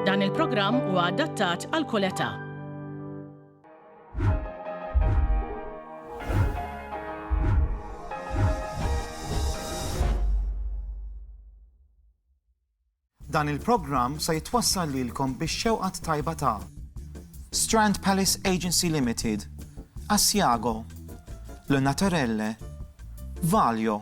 Dan il-programm huwa adattat għal kull età. Dan il-programm se jitwassal lilkom biex xewqat tajba ta' Strand Palace Agency Limited, Asiago, L Naturelle, Valio,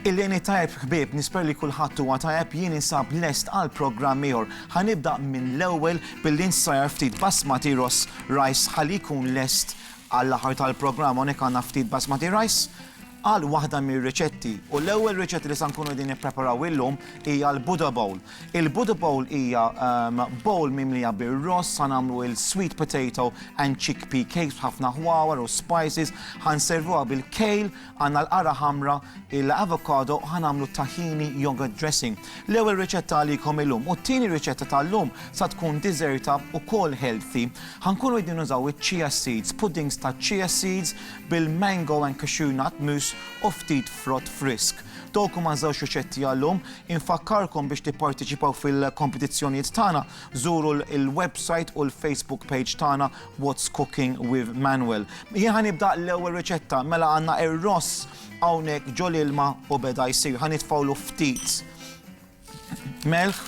Il-lejn it-tajjeb ħbieb, nisper li kulħadd huwa tajjeb jien insab lest għal programm ieħor. Ħa nibda minn l-ewwel billi nsajjar ftit basmati ross rice ħalli jkun lest għall-aħħar tal-programm hawnhekk għandna ftit basmati rice għal waħda mir-riċetti. U l-ewwel riċetti li se nkunu qegħdin nippreparaw illum hija l-Buddha Bowl. Il-Buddha Bowl hija bowl mimlija bir-ross, ħa nagħmlu il-sweet potato and chickpea cakes b'ħafna ħwawar u spices, ħa nservuha bil-kale, għandna l-qara ħamra, il-avocado u ħa nagħmlu t-tahini yogurt dressing. L-ewwel riċetta għalikom illum u t-tieni riċetta tal-lum sa tkun diżerta ukoll healthy. Ħa nkunu qegħdin nużaw iċ-chia seeds, puddings taċ-chia seeds bil-mango and cashew nut mousse u ftit frott frisk. Dawk huma ż-żewġ riċetti għal-lum. Infakkarkom biex tipparteċipaw fil-kompetizzjonijiet tagħna, żuru l-website u l-Facebook page tagħna What's Cooking with Manuel. Jien ħa nibda l-ewwel riċetta, mela għandna ir-ross hawnhekk ġol ilma u beda jsir. Ħa nitfgħulu ftit melħ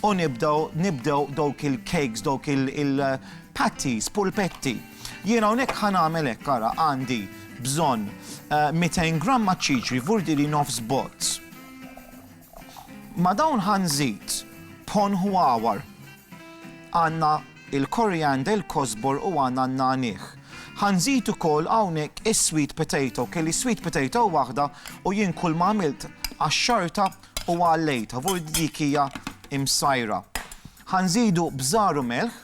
u nibdew nibdew dawk il-cakes, dawk il-patties, pulpetti. Jien hawnhekk ħa nagħmel hekk ara għandi bżonn 200 eh, gramma ċiċri, vurdi li nofs bozz. Ma' dawn ħa nżid, b'ħon ħwawar, għandna l-koriander, il-kosbor u għandna n-nagħniegħ. Ħa nżid ukoll hawnhekk is-sweet potato. Kelli sweet potato waħda u jien kull ma għamilt qaxxartha u għallejtha, vu dik hija msajra. Ħa nżidu bżar u melħ.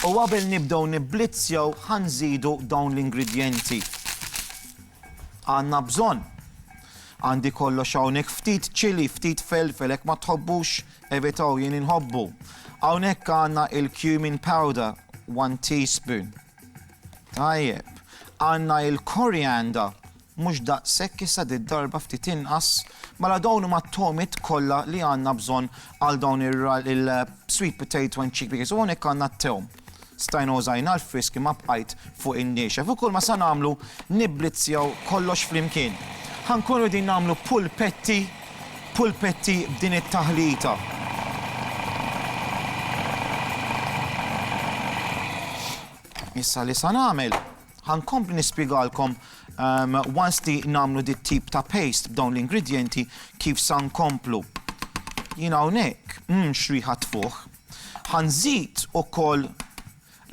U qabel nibdew nibblizzjaw ħanżidu dawn l-ingredjenti. Għandna bżonn. Għandi kollox hawnhekk ftit ċili, ftit felfel, hekk ma tħobbux evitaw jien inħobbu. Hawnhekk għandna il-cumin powder, 1 teaspoon. Tajjeb. Għandna il-korianda, Mhux daqshekk issa did-darba ftit inqas, mela dawn huma t-togħmiet kollha li għandna bżonn għal dawn il-sweet potato and chick peas. U hawnhekk għandna t-tewm. Stajna użajna l-frisk imma bqajt fuq in-niexef. U kulma se nagħmlu nibblizzjaw kollox flimkien. Ħa nkunu qegħdin nagħmlu pulpetti, pulpetti b'din it-taħlita. Issa li sa nagħmel, Ħa nkompli nispjegalkom once li nagħmlu di tip ta' paste b'dawn l-ingredjenti kif sa nkomplu. Jien hawnhekk, mmm x'riħa tfuħ. Ħa nżid ukoll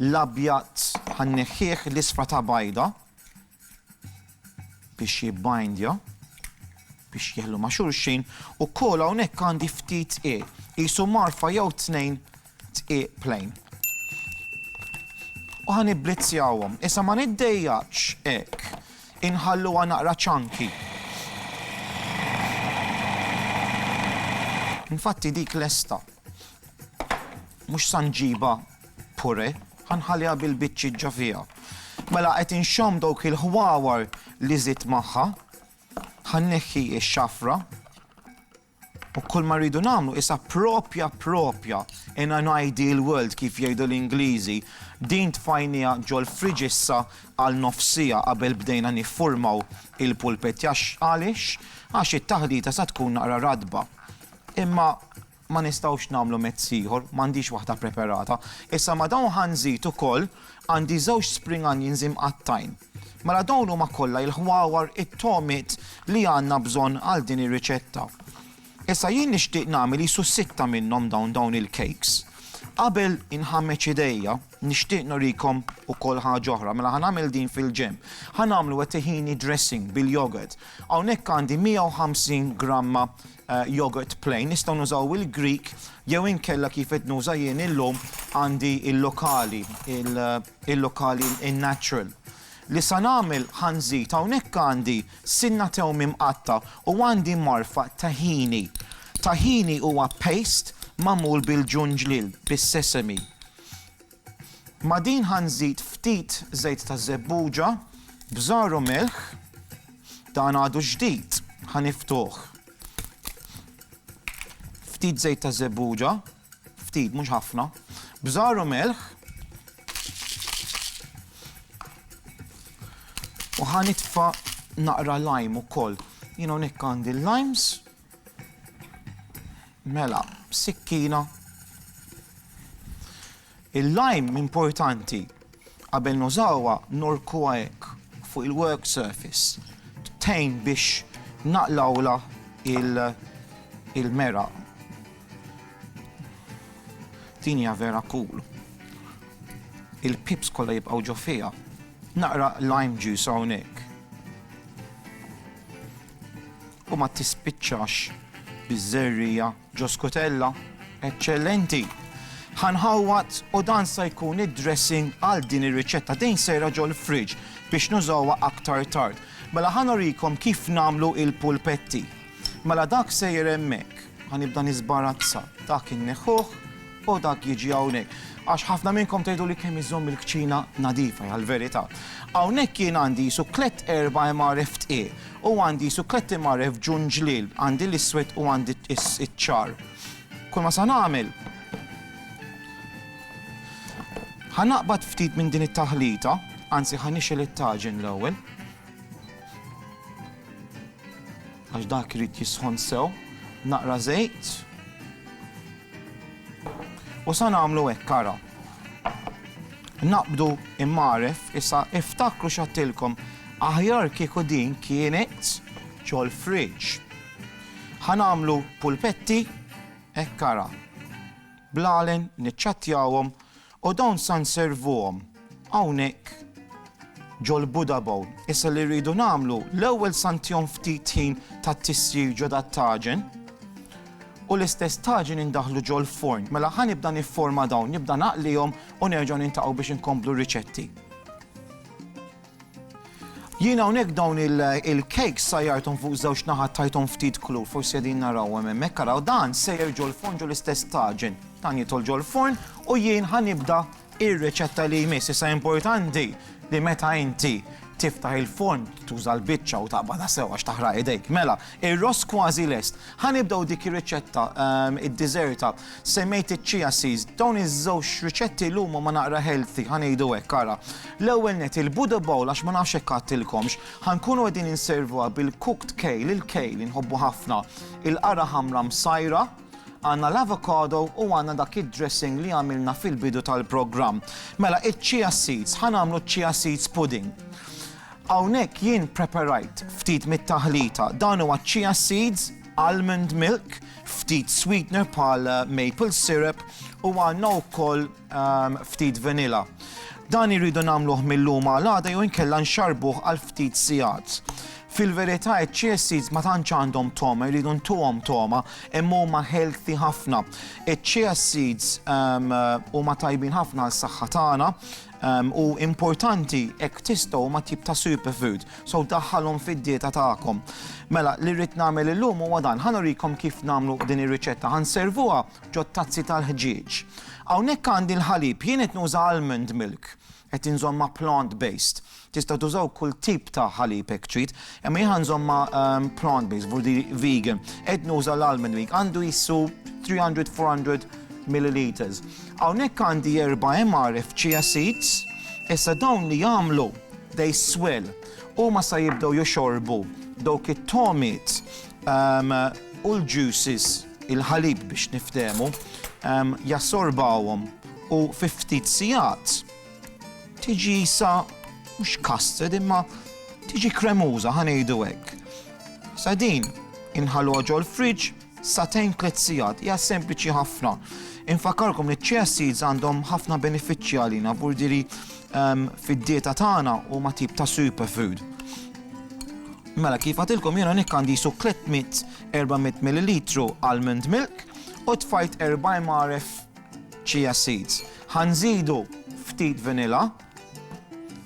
l-abjad ħa nneħħih l-isfra ta' bajda biex jibbindja biex jeħlu ma' xulxin u kol hawnhekk għandi ftit e qisu marfa jew tnejn Dqiq plain. U ħa nibblizzjawhom. Issa ma niddejjaqx hekk. Inħalluha naqra ċanki. Infatti dik lesta. Mhux sa nġiba pure, ħanħalliha bil-biċċi ġa fiha. Mela qed inxomm dawk il-ħwawar li żidt magħha, ħanneħħi x-xafra U kull ma rridu nagħmlu isha proprja proprja in an ideal world kif jgħidu l-Ingliżi, din tfajnieha ġol-fridge issa għal nofs siegħa qabel bdejna niffurmaw il-pulpit għax għaliex? Għax it-taħdita sa tkun naqra ratba. Imma ma nistgħux nagħmlu mezz ieħor, m'għandix waħda preperata. Issa ma' dawn ħa nżid ukoll, għandi żewġ spring onions imqattgħin. Mela dawn huma kollha il-ħwawar, it-togħmiet, li għandna bżonn għal din ir-riċetta. Issa jien nixtieq nagħmel qisu sitta minnhom dawn dawn il-cakes. Qabel inħammeġ idejja, nixtieq nurikom ukoll ħaġa oħra. Mela ħa nagħmel din fil-ġenb. Ħa nagħmlu it-tahini dressing bil-yogurt. Hawnhekk għandi 150 gramma yogurt plain, nistgħu nużaw il-Greek jew inkella kif qed nuża jien illum għandi il-lokali, il- il-lokali in-natural li sa nagħmel ħa nżid hawnhekk għandi sinna tewmi mqatta' u għandi marfa tahini. Tahini huwa paste magħmul bil-ġunġliel, bis-sesame. Ma' din ħa nżid ftit żejt ta' żebbuġa b'żgħar u milħ, dan għadu ġdid ħa niftuh. Ftit żejt ta' żebbuġa. ftit mhux ħafna, bżar u melħ u ħa nitfa' naqra lime ukoll. Jien hawnhekk għandi l-limes. Mela, sikkina. Il-lime importanti qabel nużawha ngħorkuha hekk fuq il-work surface tgħin biex naqlgħulha il-meraq. Din hija vera cool. Il-pips kollha jibqgħu ġo fiha. Naqra lime juice hawnhekk. U ma tispiċċax biż-żerriegħa. Joe Scutella, Eċċellenti! Ħa nħawwad u dan sa jkun id-dressing għal din ir-riċetta. Din sejra ġol-fridge biex nużawha aktar tard. Mela ħa nurikom kif nagħmlu il-pulpetti. Mela dak sejjer hemmhekk. Ħa nibda niżbarazza. Dak inneħħuh u dak jiġi hawnhekk. Għax ħafna minnkom tgħiduli kemm iżomm il-kċina nadifa, għall-verità. Hawnhekk jien għandi jisu tliet erba' MRF tqiegħ. U għandi sukketti mgħarref b'ġunn ġliel, għandi l-iswed u għandi ċ-ċar. Kull ma sa nagħmel, ħa naqbad ftit minn din it-taħlita, anzi ħa nixgħel it-taġen l-ewwel. Għax dak irid jisħon sew, naqra żejt, U sa nagħmlu hekk ara. Naqbdu mgħaref issa iftakru x'għadtilkom aħjar kieku din kienet ġol fridge. Ħa nagħmlu pulpetti hekk ara. Bl-għalen niċċattjawhom U dawn sa nservuhom hawnhekk ġol-Buddha Bowl. Issa li rridu nagħmlu, l-ewwel sa ntihom ftit ħin ta' tisjir ġo dat-taġen u l-istess taġen indaħħlu ġol-forn. Mela ħa nibda nifforma dawn, nibda naqlihom u nerġgħu niltaqgħu biex inkomplu r-riċetti. Jien hawnhekk dawn il-cakes sajjarthom fuq żewġ naħat tajthom ftit klur, forsi qegħdin narawhom hemmhekk, araw dan sejjer ġol-forn ġol-istess taġen. Dan jidħol ġol-forn u jien ħa nibda ir-riċetta li jmiss. Issa importanti li meta inti tiftaħ il-forn tuża l-biċċa u taqbadha sewa x'taħraq idejk. Mela, ir-ross kważi lest. Ħa nibdew dik ir-riċetta ehm, id-diżerta Semmejt iċ-chia seeds, dawn iż-żewġ riċetti llum huma naqra healthy, ħa ngħidu hekk, ara. L-ewwel nett il-Buddha bowl għax ma nafx hekk għadtilkomx, ħa nkunu qegħdin inservuha bil-cooked kale, il-kale li nħobbu ħafna, il-qara ħamra msajra, għandna l-avocado u għandna dak id-dressing li għamilna fil-bidu tal-programm. Mela, iċ-chia seeds, ħa nagħmlu ċ-chia seeds pudding. Hawnhekk jien preparajt ftit mit-taħlita, dan huwa ċ-chia seeds, almond milk, ftit sweetener bħal maple syrup u għandna wkoll ftit vanilla. Dan irridu nagħmluh mil-lum għal għada jew inkella nxarrbuh għal ftit sigħat. Fil-verità iċ-chia seeds ma tantx għandhom togħma, irridu ntuhom togħma, imma huma healthy ħafna. Iċ-chia seeds huma tajbin ħafna għas-saħħa tagħna, Ehm, u importanti hekk tistgħu ma tip ta' superfood, so daħħalhom fid-dieta tagħkom. Mela, li rrid nagħmel illum huwa dan, ħanurikom kif nagħmlu din ir-riċetta, ħanservuha ġo tazzi tal-ħġieġ. Hawnhekk għandi l-ħalib, jien qed nuża almond milk, qed inżomma plant-based. Tistgħu tużaw kull tip ta' ħalib hekk trid, imma jien ħa nżommha plant based, vurdi vegan. Qed nuża l-almond milk, għandu jissu 300-400 milliliters. Hawnhekk għandi erba' MRF chia seeds, issa dawn li jagħmlu they swell. Huma sa jibdew jixorbu dawk it-tomiet u l-juices, il-ħalib biex niftehmu, jassorbawhom u fi ftit sigħat tiġi sa mhux custard imma tiġi kremuża ħa ngħidu hekk. Sa din inħalluha ġol fridge sa tejn tliet sigħat hija sempliċi ħafna. Infakarkom li ċ-chia seeds għandhom ħafna benefiċċji għalina burdiri ehm, fid-dieta tagħna u ma tip ta' superfood. Mela kif għatilkom jiena nikkandi su 300-400 ml almond milk u tfajt 40 maref chia seeds. Ħa nżidu ftit vanilla.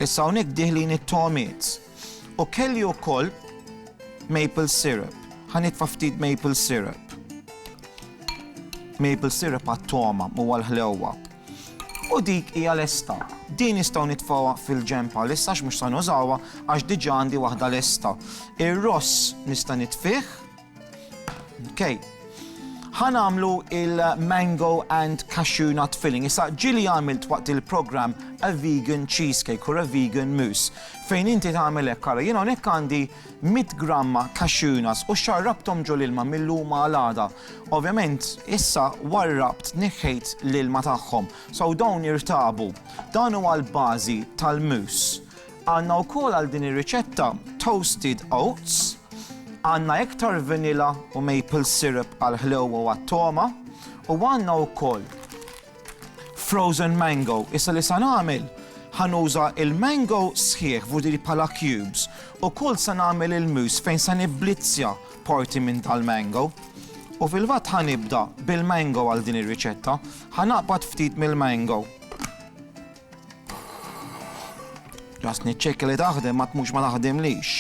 Issa hawnhekk dieħlin it-togħmiet. U kelli wkoll maple syrup. Ħa nitfa' ftit maple syrup. Maple syrup għat-togħma u għall-ħlewwa. U dik hija lesta. Din nistgħu nitfgħuha fil-ġenb għal issa mhux se nużawha għax diġà għandi waħda lesta. Ir-ross nista' nitfih. Okay. Ħan għamlu il-mango and cashew nut filling. Issa ġili għamilt waqt il-program a vegan cheesecake or a vegan mousse. Fejn inti tagħmel hekk ara, jiena hawnhekk għandi 100 gramma cashew nuts u xarrabtom ġol ilma mill-luma għal Ovvjament, issa warrabt neħħejt l-ilma tagħhom. So dawn irtabu. Dan huwa l-bażi tal-mousse. Għandna wkoll għal din ir-riċetta toasted oats, għandna iktar vanilla u maple syrup għall-ħlewwa u għat-togħma, u għandna wkoll frozen mango. Issa li sa nagħmel, ħa nuża l-mango sħiħ vurdir bħala cubes, ukoll sa nagħmel il-mousse fejn sa nibblizzja parti minn dal-mango. U fil-fatt ħa nibda bil-mango għal din ir-riċetta, ħa naqbad ftit mill-mango. Ġast niċċekkja li taħdem ma tmux ma taħdimlix.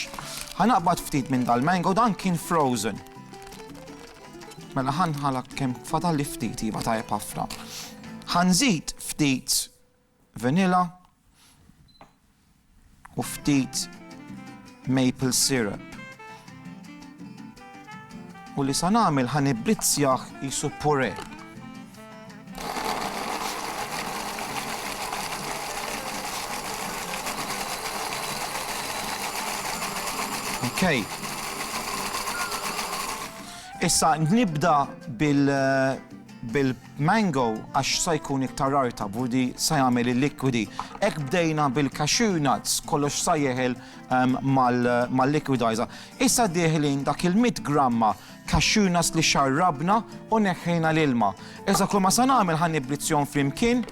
Ħanaqbad ftit minn dal-mango dan kien frozen. Mela ħanħalak kemm fadal li ftit iva tajjeb ħafna. Ħanżid ftit vanilla u ftit maple syrup u li sa nagħmel ħa nibbrizzjah qisu puree. Okay. Issa nibda bil eh, bil Mango għax sa jkun iktar rar ta' budi sa jagħmel il-likwidi. Hekk bdejna bil-cashew nuts, kollox sa jeħel mal-liquidizer. Issa dieħlin dak il-mitt gramma cashew nuts li xarrabna u neħħejna l-ilma. Issa kulma sa nagħmel ħa nibblizzjhom flimkien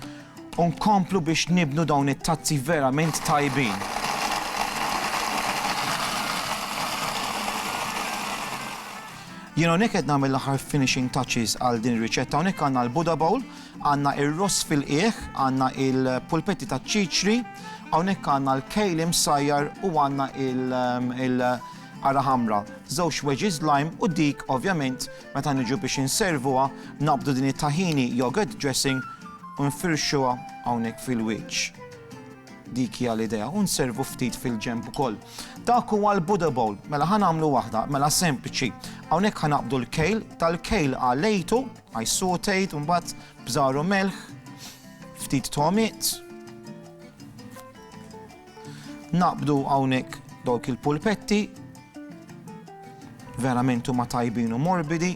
u nkomplu biex nibnu dawn it-tazzi verament tajbin. Jien hawnhekk qed nagħmel l-aħħar finishing touches għal din ir-riċetta. Hawnhekk għandna l-Buddha bowl, għandna r-ross fil-qiegħ, għandna l-pulpetti taċ-ċiċri, hawnhekk għandna l-kale imsajjar u għandna l-qara ħamra, żewġ wedges lime u dik ovvjament meta niġu biex inservuha naqbdu din it-tahini yogurt dressing u nfirxuha hawnhekk fil-wiċċ. Dik hija l-idea. U nservu ftit fil-ġenb ukoll. Dak huwa l-Buddha bowl. Mela ħa nagħmlu waħda, mela sempliċi. Hawnhekk ħa naqbdu l-kejl, tal-kejl ħa lejtu, I sauteed, u mbagħad bżar u melħ, ftit togħmiet. Naqbdu hawnhekk dawk il-pulpetti, verament huma tajbin u morbidi.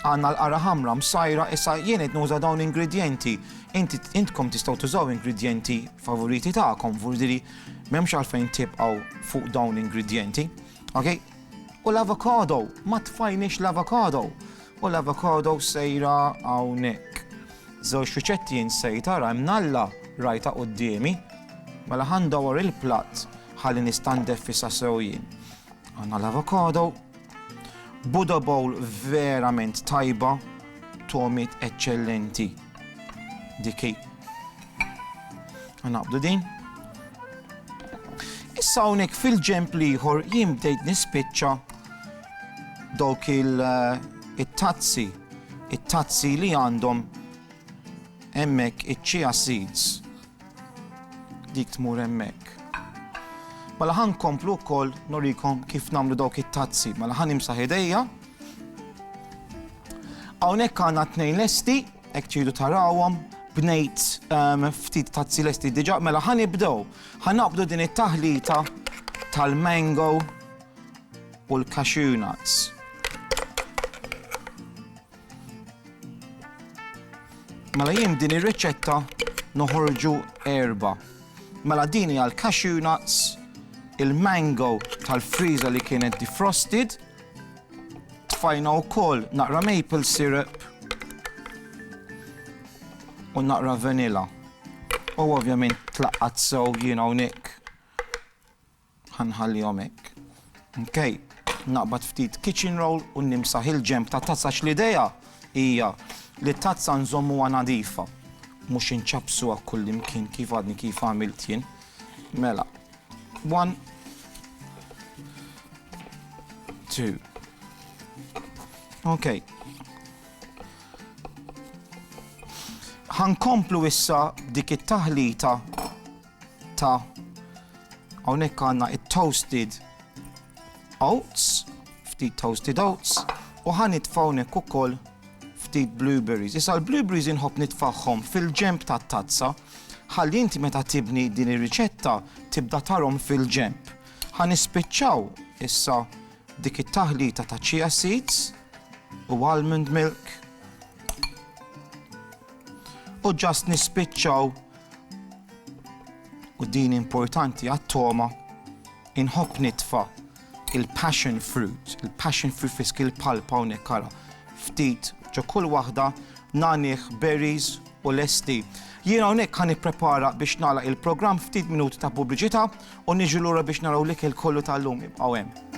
Għandna l-qara ħamra msajra issa jien qed nuża dawn ingredjenti. Inti intkom tistgħu tużaw ingredjenti favoriti tagħkom, vurdiri m'hemmx għalfejn tibqgħu fuq dawn l-ingredjenti. Ok? U l-avocado, ma tfajniex l-avocado. U l-avocado sejra hawnhekk. Żewġ riċetti jien sejta ra mnalla rajta qudiemi. Mela ħandawar il-platt ħalli nistandef fissa sew jien. Għandna l-avocado, Buddha Bowl verament tajba, togħmiet eċċellenti. Dik hi. Naqbdu din. Issa hawnhekk fil-ġemp l-ieħor jien bdejt nispiċċa dawk eh, it-tazzi, it-tazzi li għandhom hemmhekk iċ-chia seeds Dik tmur hemmhekk. Mela ħa nkomplu wkoll nurikom kif nagħmlu dawk it-tazzi. Mela ħa nimsaħ idejja. Hawnhekk għandna tnejn lesti, hekk tridu tarawhom, bnejt ehm, ftit tazzi lesti diġà, mela ħa nibdew. Ħa naqbdu din it-taħlita tal-mango u l-cashew nuts. Mela jien din ir-riċetta noħorġu erba'. Mela din hija l-cashew nuts, il-mango tal-friża li kienet defrosted, tfajna wkoll naqra maple syrup u naqra vanilla. U ovvjament tlaqqat sew jien hawnhekk Ħa nħallihom hekk. Ok, naqbad ftit kitchen roll u nimsaħ il-ġenb tat-tazza għax l-idea hija li t-tazza nżommuha nadifa, mhux inċappsuha kullimkien kif għadni kif għamilt jien. Mela, one, two. Ok. Ħankomplu issa dik it-taħlita ta' hawnhekk għandna it-toasted oats, ftit toasted oats, u ħa nitfa' hawnhekk ukoll ftit blueberries. Issa l-blueberries inħobb nitfagħhom fil-ġenb tat-tazza ħalli inti meta tibni din ir-riċetta tibda tarhom fil-ġenb. Ħa nispiċċaw issa dik it-taħlita ta' chia seeds u almond milk u ġast nispiċċaw u din importanti għat-togħma, inħobb nitfa' il-passion fruit, il-passion fruit frisk, il-palpa hawnhekk ara, ftit ġo kull waħda, nagħnih berries u lesti. Jiena hawnhekk ħa nipprepara biex nagħlaq il-programm ftit minuti ta' pubbliċità u niġu lura biex naraw l-ikel kollu tal-lum ibqgħu hemm.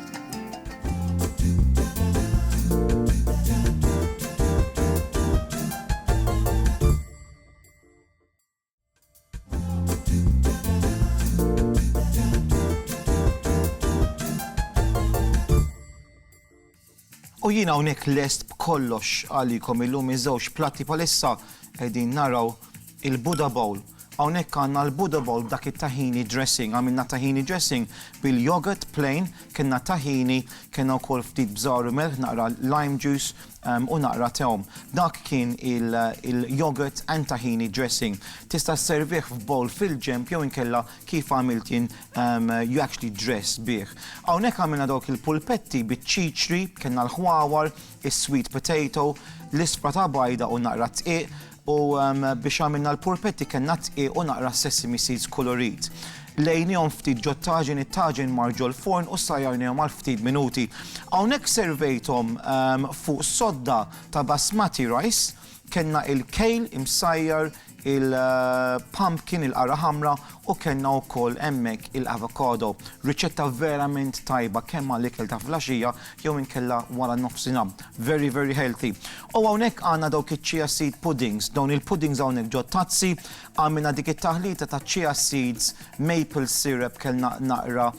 U jien hawnhekk lest b'kollox għalikom illum iż-żewġ platti palissa qegħdin naraw il-Buddha Bowl. Hawnhekk għandna l-Buddha Bowl dak it-tahini dressing, għamilna tahini dressing bil-yogurt plain, kellna tahini, kellna wkoll ftit bżar u melħ naqra lime juice u naqra tewm. Dak kien il-yogurt and tahini dressing. Tista' sservih f'bowl fil-ġenb jew inkella kif għamilt jien you actually dress bih. Hawnhekk għamilna dawk il-pulpetti biċ-ċiċri, kellna l-ħwawar, is-sweet potato, l-ispra ta' bajda u naqra dqiq, U biex għamilna l-purpetti kellna dqiq u naqra sesame seeds kulurit. Lejnihom ftit ġot-taġin, it-taġin mar ġol-furn u ssajjarnihom għal ftit minuti. Hawnhekk servejthom fuq sodda ta' basmati rice, kellna il-kale imsajjar, il-pumpkin, il-qara ħamra, u kellna wkoll hemmhekk il-avocado. Riċetta verament tajba kemm għal ikel ta' flaxija jew inkella wara nofsinha. Very very healthy. U hawnhekk għandna dawk iċ-chia seed puddings. Dawn il-puddings hawnhekk ġot-tazzi, għamilna dik it-taħlita ta' chia seeds, maple syrup, kellna naqra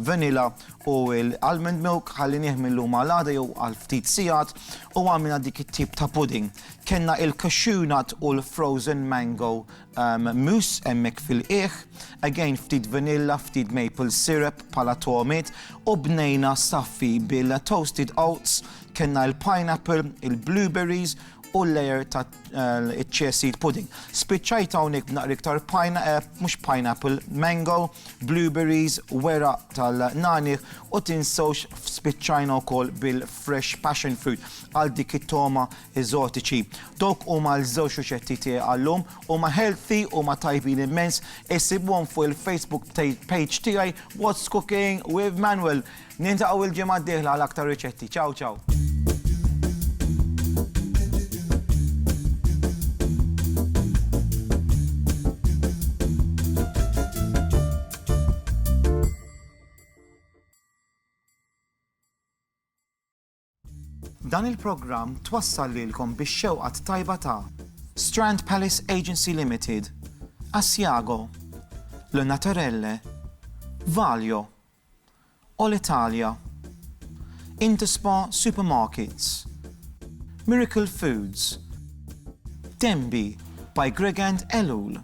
vanilla u l-almond milk, ħallinih mil-lum għal għada jew għal ftit sigħat u għamilna dik it-tip ta' pudding. Kellna il-cashew nut u l-frozen mango Mousse hemmhekk fil-qiegħ, again ftit vanilla, ftit maple syrup bħala togħmiet u bnejna saffi bil-toasted oats, kellna l-pineapple, il-blueberries u l-layer ta' chia seed pudding. Spiċċajt hawnhekk b'naqra iktar mhux pineapple, mango, blueberries, weraq tal-nagħniegħ u tinsewx spiċċajna wkoll bil-fresh passion fruit għal dik it-togħma eżotiċi. Dawk huma l-żewġ riċetti tiegħi għal-lum, huma healthy, huma tajbin immens, issibuhom fuq il-Facebook page tiegħi What's Cooking with Manuel. Niltaqgħu il-ġimgħa d-dieħla għal aktar riċetti. Ciao ciao! Dan il-programm twassal lilkom bix-xewqa t-tajba ta'. Strand Palace Agency Limited, Asiago, Le Naturelle, Valio, Olitalia, Interspa Supermarkets, Miracle Foods, Denby by Gregand Ellul,